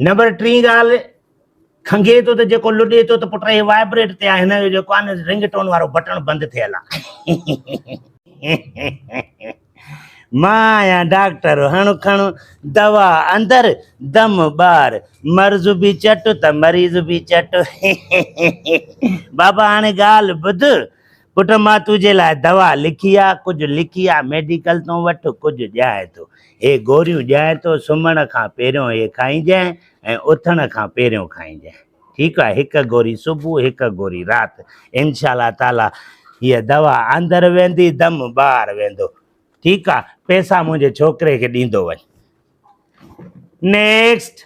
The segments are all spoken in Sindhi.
نمبر ٽين ڳالهه، کنگهي ٿو ته جيڪو لڏي ٿو ته پٽ هي وائبريٽ تي آهي، هن جو جيڪو آهي نه رنگ ٽون وارو بٽڻ بند ٿيل آهي. مان آهيان ڊاڪٽر، هڻ کڻ دوا اندر، دم ٻاهر، مرض به چٽ ته مريض به چٽ. بابا هاڻي ڳالهه ٻڌ، پٽ مان تنهنجي لاء دوا لکي آ، ڪجهه لڪي آ ميڊيڪل تون وٺ، ڪجهه ڄائين تو هي گوريون ڄائين تو سمهڻ کان پهريون هي کائينجانء ۽ اٿڻ کان پهريون کائينجانء ٺيڪ آ هڪ گوري صبح هڪ گوري رات انشاء الله تعالي هيء دوا اندر ويندي دم ٻاهر ويندو ٺيڪ آ پئسا منهنجي ڇوڪري کي ڏيندو وڃ نيڪسٽ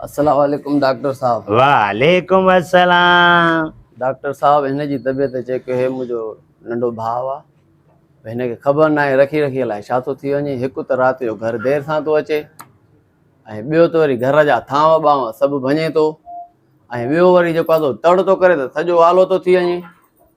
السلام عليڪم ڊاڪٽر صاحب. وعليڪم السلام. ڊاڪٽر صاحب هن جي طبيعت چيڪ هي منهنجو ننڍو ڀاء آ هن کي خبر ناهي رکي رکي الائي ڇا ٿو ٿي وڃي هڪ ته رات جو گهر دير سان ٿو اچي ۽ ٻيو ته وري گهر جا ٿانو ٻانو سڀ ڀڃي ٿو ۽ ٻيو وري جيڪو آ سو تڙ ٿو ڪري ته سڄو آلو ٿو ٿي وڃي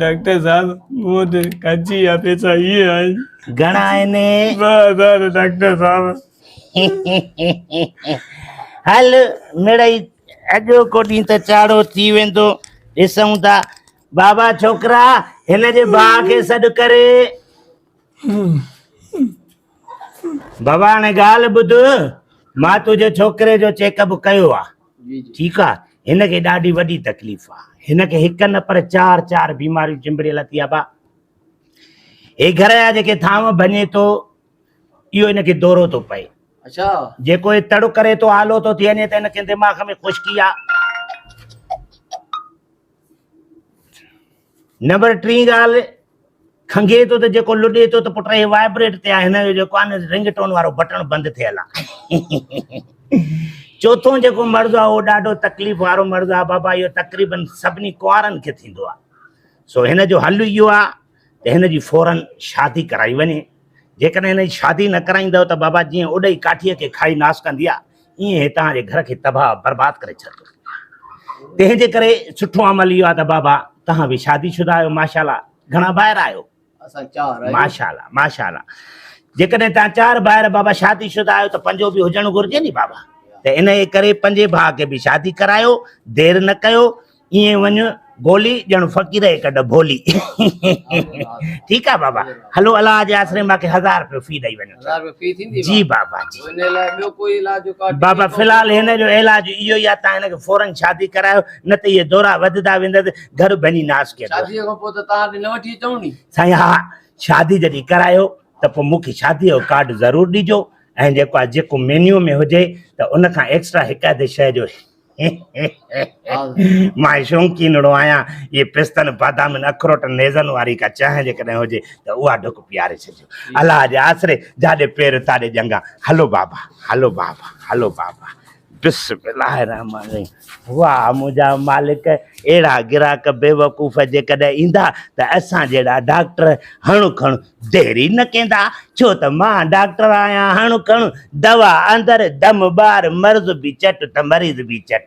ڊاڪٽر صاحب مون وٽ ڪاچي يا پيسا اهي آهن گهڻا آهن ٻه هزار ڊاڪٽر صاحب هل مڙئي اڄو ڪو ڏينهن ته چاڙهو ٿي ويندو ڏسون ٿا بابا ڇوڪرا هن جي ڀاء کي سڏ ڪري بابا هاڻي ڳالهه ٻڌ مان تنهنجي ڇوڪري جو چيڪ اپ ڪيو آهي ٺيڪ آ هن کي ڏاڍي وڏي تڪليف آ هن کي هڪ نه پر چار چار بيماريون چنبڙيل اٿي ابا هي گهر جا جيڪي ٿانو ڀڃي ٿو اهو هن کي دورو ٿو پئي اچھا جيڪو هي تڙ ڪري ٿو آلو ٿو ٿي وڃي ته هن کي دماغ ۾ خشڪي آ نمبر ٽين ڳالهه کنگهي ٿو ته جيڪو لڏي ٿو ته پٽ هي وائبريٽ تي آهي هن جو جيڪو آهي نه رنگ ٽون وارو بٽڻ بند ٿيل آهي چوٿون جيڪو مرض آهي اهو ڏاڍو تڪليف وارو مرض آهي بابا اهو تقريبن سڀني ڪنوارن کي ٿيندو آهي سو هن جو حل اهو آهي ته هن جي فورن شادي ڪرائي وڃي جيڪڏهن هن جي شادي نه ڪرائيندؤ ته بابا جيئن اڏئي ڪاٺيء کي کائي ناس ڪندي آهي، ايئن هي توهان جي گهر کي تباهه برباد ڪري ڇڏندو. تنهن جي ڪري سٺو عمل اهو آهي ته بابا توهان به شادي شده آهيو ماشاءالله، گهڻا ڀائر آهيو؟ اسان چار آهيون. ماشاءالله ماشاءالله، جيڪڏهن توهان چار ڀائر بابا شادي شده آهيو ته پنجو به هجڻ گهرجي ني بابا، ته انهيء ڪري پنجين ڀاء کي به شادي ڪرايو، دير نه ڪيو. ائين وڃ گولي ڄڻ فقير جي ڪڍ ڀولي ٺيڪ آ بابا هلو الله جي آسري ماکي هزار روپيو في ڏئي وڃو هزار روپيو في ٿيندي جي بابا جي ان لاء ٻيو ڪوئي علاج جو ڪارڊ بابا في الحال هن جو علاج اهو ئي آ تان هن کي فورن شادي ڪرايو نه ته اهي دورا وڌدا ويندس گهر ڀڃي ناس ڪيندو شادي کان پوء ته تان نه وٺي اچون ني سائين ها شادي جڏي ڪرايو ته پوء مون کي شادي جو ڪارڊ ضرور ڏجو ۽ جيڪو آ جيڪو مينيو ۾ هجي ته ان کان ايڪسٽرا هڪ اڌ شئي جو مان شوقينڙو آهيان، اهي پستن، بادامين، اخروٽن، نيزن واري ڪا چانهه جيڪڏهن هجي ته اها ڍڪ پياري ڇڏجو. الله جي آسري، جاڏي پير تاڏي ڄنگهه. هلو بابا، هلو بابا، هلو بابا. بسم الله الرحمن الرحيم. واهه منهنجا مالڪ، اهڙا گراهڪ بيوقوف جيڪڏهن ايندا ته اسان جهڙا ڊاڪٽر هڻ کڻ ديري نه ڪيندا، ڇو ته مان ڊاڪٽر آهيان، هڻ کڻ دوا اندر، دم ٻاهر، مرض به چٽ ته مريض به چٽ.